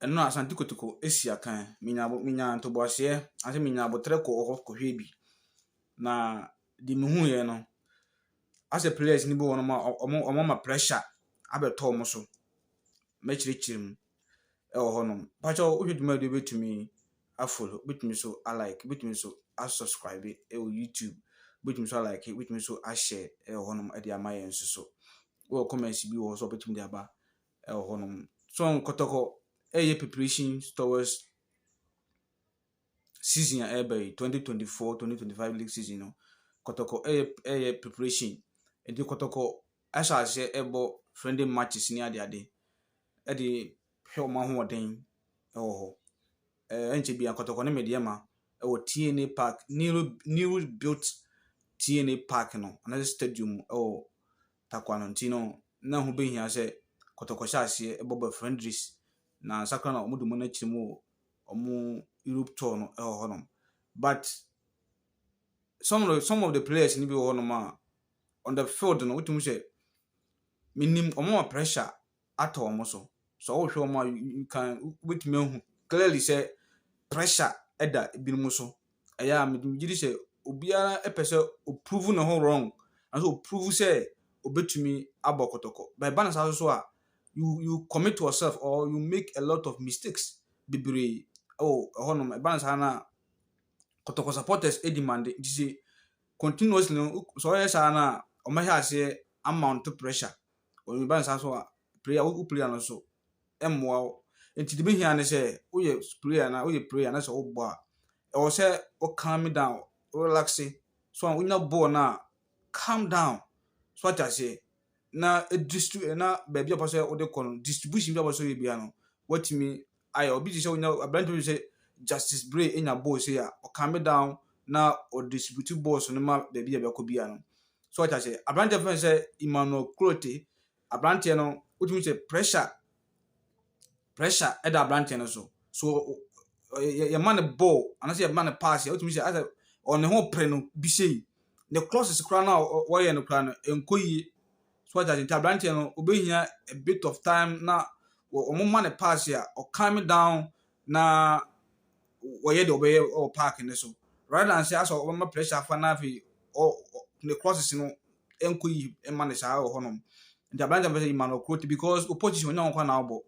Ɛno a, Asante Kotoko si akan. Menya abo menya ntoboaseɛ anaasɛ menya aboterɛ kɔɔ hɔ kɔhwɛɛ bi, na deɛ mehuiɛ no, asɛ players no bi wɔ hɔnom a, ɔ ɔmo ɔmo ama pressure abɛtɔ ɔmo so. Mɛkyerɛkyerɛ mu wɔ hɔnom. Pakyɛ wo hwɛ dwumadie yi wobɛtumi a follow, wobɛtumi nso a like, wobɛtumi nso a subscribe wɔ YouTube, wobɛtumi nso a like, wobɛtumi nso a share wɔ hɔnom de ama yɛn nso so. Wowɔ comments bi wɔ hɔ nso a wobɛtumi de aba ɛwɔ hɔ nom. So nkɔtɔkɔ ɛyɛ preparations towards season a ɛreba yi twenty twenty four twenty twenty five league season no kɔtɔkɔ ɛyɛ ɛyɛ preparation nti kɔtɔkɔ ahyɛ aseɛ ɛbɔ friendly matches ne adeade ɛde hwɛ wɔn ahoɔden ɛwɔ hɔ ɛɛ ɛnkyɛ bi akɔtɔkɔ ne medeɛ ma ɛwɔ tna park new new built tna park no anaa stadium ɛwɔ. Takwa no ntsi no, nna ɛho behia sɛ kɔtɔkɔ hyɛ aseɛ bɔ bɛ Flandres na ansa koraa na wɔde wɔn akyiri mu wɔ wɔn Europe tour no wɔ hɔnom. But some of the, some of the players no bi wɔ hɔnom a, on the field no, wotumi sɛ, menim wɔma pressure atɔ wɔn so. Sɛ wohwɛ wɔn a, you can wobɛtumi ahu clearly sɛ pressure da ebinom so. Ɛyɛ a mede megye di sɛ obiara pɛ sɛ ɔprove ne ho wrong anaasɛ ɔprove sɛ ɔbɛtumi abɔ kɔtɔkɔ. But ɛba no saa so a, you you commit yourself or you make a lot of mistakes bebree wɔ ɛhɔnom. Ɛba no saa no a, kɔtɔkɔ supporters di mande nti sɛ continuously no sɛ ɔyɛ saa no a, wɔbɛhyɛ aseɛ amount pressure. Ɛba no saa nso a, prayer, wo prayer no nso, ɛmmoa wo. Nti deɛ ɛbɛhia ne sɛ, woyɛ prayer na woyɛ prayer na sɛ wobɔ a, ɛwɔ sɛ wo calm down, wo relax, so a wonya bɔɔl no a, calm down, so ate aseɛ, na ɛdistri na baabi a wopɛ sɛ wode kɔ no, distribution bi a wopɛ sɛ woyɛ biara no, woatumi ayɛ obi te sɛ onya aberante bi te sɛ Justice Bray nya bɔɔl sei a, ɔcome down na ɔdistribute balls no ma baabi a ɛbɛkɔ biara no. So ɔte aseɛ. Aberanteɛ fɛn sɛ Emmanuel Clote, aberanteɛ no wotumi sɛ pressure pressure ɛda aberanteɛ no so. So yɛma no bɔɔl anaasɛ yɛma no pass a wotumi sɛ asɛ ɔne ho pere no bi sei. Ne crosses koraa no a wɔyɛ no koraa no ɛnkɔ yie. So wate ase? Nti abranteɛ no obehia a bit of time na wɔn ma no pass a ɔ calm down na wɔyɛ deɛ ɔbɛyɛ wɔ park no so rather than sɛ asɛ ɔbɛma pressure afa na afei ɔ ne crosses no nkɔ yie ma no saa wɔ hɔnom. Nti abranteɛ no pɛ sɛ yima no ɔkroti because opposition ɔnya ho kwan na ɔbɔ.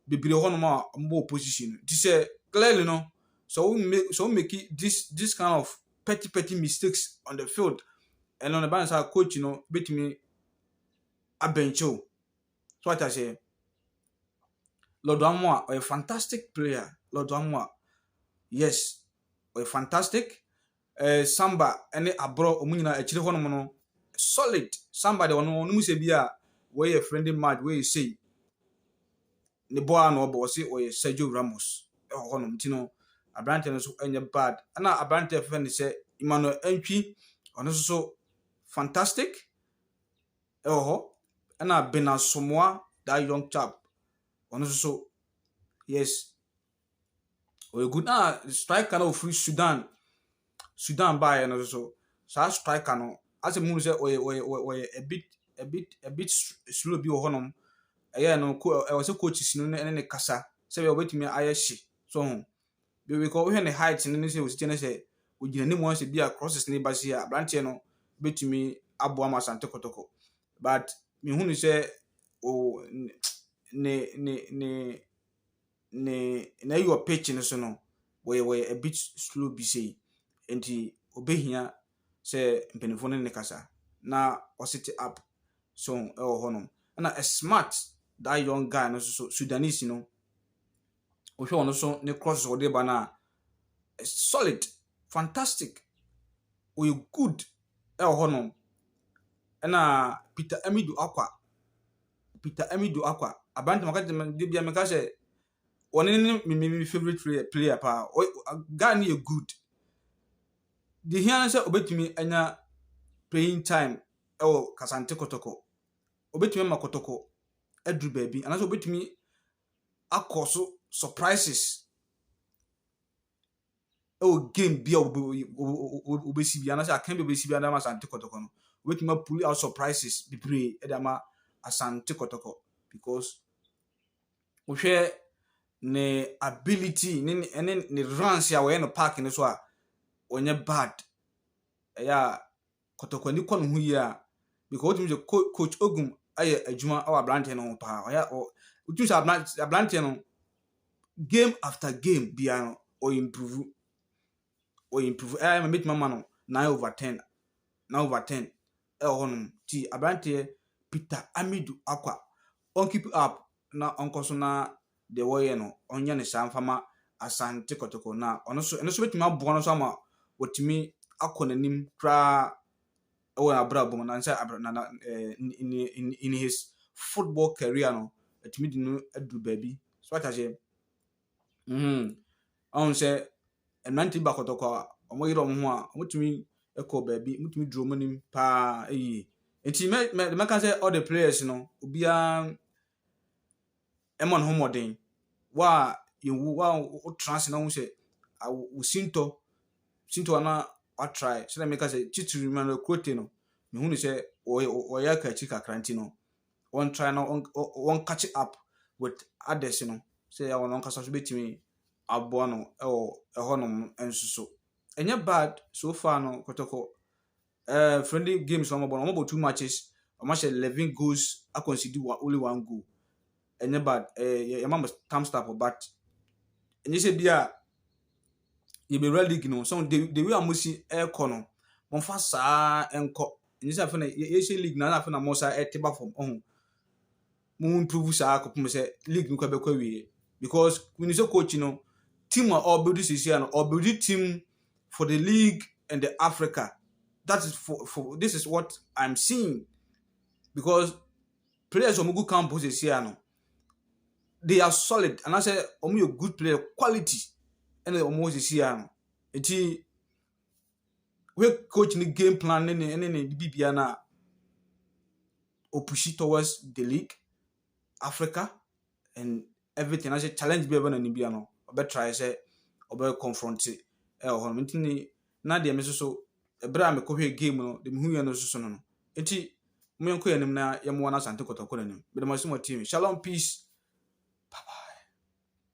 bebree wɔ hɔnom a wɔbɔ opposition no. Nti sɛ clearly no, sɛ wo make sɛ wo make this this kind of petty petty mistakes on the field, ɛno no ɛba no sɛ coach no betumi abɛnkye wo. So ate aseɛ. Lɔdo Amoa ɔyɛ fantastic player. Lɔdo Amoa yes ɔyɛ fantastic Eh, samba ne aborɔ wɔn nyinaa akyire hɔ nom no solid samba deɛ ɔno ɔnom sɛ bi a wei yɛ friendly match wei yɛ sei ne bɔ a na ɔbɔ ɔse ɔyɛ Sergio Ramos ɛwɔ hɔ nom nti no aberanteɛ no nso ɛnyɛ bad ɛna aberanteɛ fɛfɛ ne sɛ Emmanuel Antwi ɔno nso so fantastic ɛwɔ hɔ ɛna Bena Somoa that young chap ɔno nso so yes Ɔyɛ good ah striker no a ɔfiri Sudan Sudan baeɛ no nso saa striker no asɛ mu sɛ ɔyɛ ɔyɛ ɔyɛ a bit a bit a bit slow bi wɔ hɔnom ɛyɛ no ko ɛwɔ sɛ coach si no ne ne kasa sɛ bɛyɛ ɔbɛtumi ayɛ hye so ho bɛbɛkɔ wohwɛ ne height no ne sɛ ɔsi kyɛ ne sɛ ɔgyina ne mu asɛ bi a crosses ne ba si a aberanteɛ no bɛtumi aboa ma asante kɔtɔkɔ but mehu ne sɛ o ne ne ne ne na eyi wɔ pitch no so no, wɔyɛ wɔyɛ a bit slow bi sei. Nti obehia sɛ mpanyinfoɔ no ne no kasa na ɔsete up so ɛwɔ hɔ nom. Ɛna smart that young guy no so Sudanese no wohwɛ ɔno so ne crosses ɔde ba no a solid fantastic ɔyɛ good ɛwɔ hɔ nom. Ɛna Peter Amidu Akwa. Peter Amidu Akwa, aberanteɛ meka kyerɛ no, dabi a meka sɛ, ɔno ne me me me favourite player player paa, ɔ ɔ guy no yɛ good. Deɛ ɛhia ne sɛ ɔbɛtumi anya playing time wɔ Kasante Kɔtɔkɔ, ɔbɛtumi ama Kɔtɔkɔ aduru baabi, anaasɛ ɔbɛtumi akɔ so surprises. ɛwɔ game bi a wɔbɛ wɔbɛ wɔbɛsi bi anaasɛ akan bi a wɔbɛsi bi de ama Asante Kɔtɔkɔ no, wɔbɛtumi apuli out surprises bebree de ama Asante Kɔtɔkɔ because wohwɛ ne ability ne ne ne ne runs a wɔyɛ no park no so a, ɔnyɛ bad. Ɛyɛ a kɔtɔkɔni kɔ ne ho yie a, because wotumi sɛ co coach Ogum ayɛ adwuma wɔ aberanteɛ no ho paa. Ɔyɛ ɔ wotumi sɛ abran aberanteɛ no game after game biara no ɔyɛ improve. Ɔyɛ improve. Ɛyɛ ma mɛtumi ama no nine over ten. Nine over ten ɛwɔ hɔnom. Ti aberanteɛ Peter Amidu Akwa ɔnkeep up na ɔnkɔ so na deɛ wɔyɛ no ɔnyɛ no saa mfa ma Asante Kotoko na ɔno so ɛno so bɛtumi aboa no so ama wɔtumi akɔ n'anim koraa ɛwɔ abrabɔ mu na sɛ abra na na in, in, in his football career no ɛtumi de no adu baabi so ata sɛ Ɔhu sɛ mmerante bi bɔ akɔtɔkwa a, wɔyere wɔn ho a, wɔtumi kɔ baabi, wɔtumi duru wɔn anim paa yie. Nti mɛ mɛ deɛ mɛka sɛ all the players no, obiara mmɔ ne ho mmɔden. Wo a yɛnwu, wo a wotena ase na wohu sɛ awo wo sintɔ sintɔ anaa woatrae sɛdeɛ meka sɛ titire Manuel Quote no, mehu no sɛ ɔyɛ ɔyɛ akaakyi kakra nti no, wɔn try na wɔn wɔn catch up with others no sɛ yɛ wɔn ankasa nso betumi aboa no wɔ ɛhɔnom nso so ɛnyɛ bad so far no kɔtɔkɔ ɛɛ eh, friendly games wɔn bɔ no wɔn bɔ two matches wɔn ahyɛ eleven goals akɔnsidi only one goal ɛnyɛ bad ɛɛ eh, yɛ yɛ ma mo thumbs up but ɛnyɛ sɛ bi a. yɛbɛwura league no mu. So the, the way a mosi ɛrekɔ no, momfa saa nkɔ. Ɛnyɛ sɛ afei na yɛhyɛ league no, na afei na mo saa ɛte ba fam. Ɔho. Mo improve saa akɔpem sɛ league no kɔ bɛkɔ awie. Because when you say coach no, team a ɔbɛdi sisi no, ɔbɛdi team for the league and the Africa. That is for, for this is what I'm seeing. Because players a wɔgu camp sisi no, they are solid anaasɛ wɔyɛ good player quality ɛna wɔn wɔ sisi ya no eti wei coach ne game plan ne ne ne ne bibia na opushi towards the league africa and everything anaasɛ challenge bi a ɛbɛ na ne bia no ɔbɛ try sɛ ɔbɛ confront ɛwɔ hɔ no nti ne na deɛ me nso so ɛberɛ a mekɔhwɛɛ game no deɛ mehuiɛ no nso so no no nti mo yɛnkɔ yɛn anim na yɛmmoa no Asante Kɔtɔ kɔ n'anim mede mo ase mo atie me shalom peace bye bye.